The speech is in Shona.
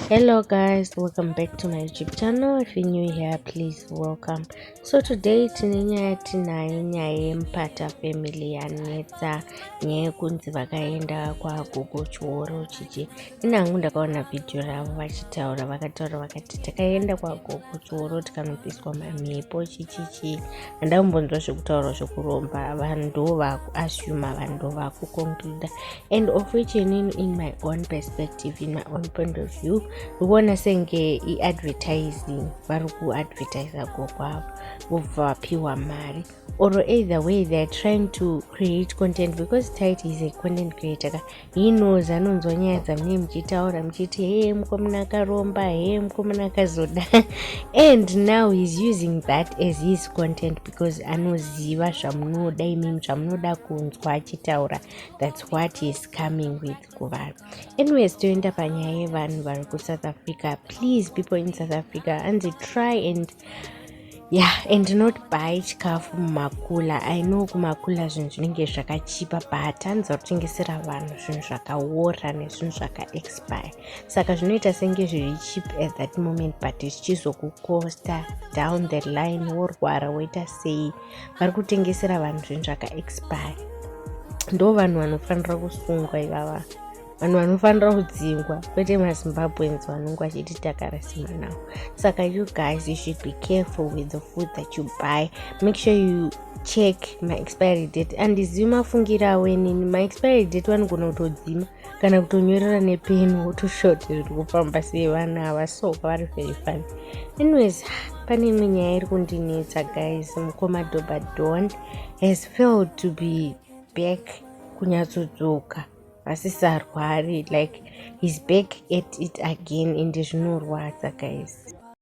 hello guys welcome back to my youtube channel if you're new here please welcome so today tine nyaya yatinayo nyaya yemupata family yanetsa nyaya yekunzi vakaenda kwagogo chioro chichi ini hangu ndakaona vhidhiyo ravo vachitaura vakataura vakati takaenda kwagogo chioro tikanobviswa mamhepo chichichi handai kumbonzwa zvekutaura zvekuromba vanhu ndo vakuassuma vanhu ndo vakuconcluda and of which inini in my own perspective in my own point of view ndikuona senge iadvertising vari kuadvertisa gokwavo vobva vapiwa mari or either way theyare trying to create content because tit is a content creator ka he knows anonzwa nyaya dzamunee muchitaura muchiti hee mukomana akaromba hee mukomana akazoda and now he's using that as his content because anoziva zvamunoda imimi zvamunoda kunzwa achitaura thats what heis coming with kuvanhu anyways toenda panyaya yevanhu vari kusouth africa please people in south africa anzi try and ya and not buy chikafu mumakula i know kumakula zvinhu zvinenge zvakachipa but hanza kutengesera vanhu zvinhu zvakaora nezvinhu zvakaexpire saka zvinoita senge zviri cheap at that moment but zvichizokukosta down the line worwara woita sei vari kutengesera vanhu zvinhu zvakaexpire ndo vanhu vanofanira kusungwa ivava vanhu vanofanira kudzingwa kwete mazimbabweans vanonge vachiti takarasima now saka you guys you should be careful with the food that you buy make sure you check maexpiry date andizivi mafungiro avo inini maexpiry date vanogona kutodzima kana kutonyorera nepeni wotoshoti zviri kufamba sei vana ava so kwavari very fun anyways pane imwe nyaya iri kundinetsa guys mukoma dobadon has failed to be back kunyatsodzoka asisarwari like he's back at it again ende zvinorwadza guys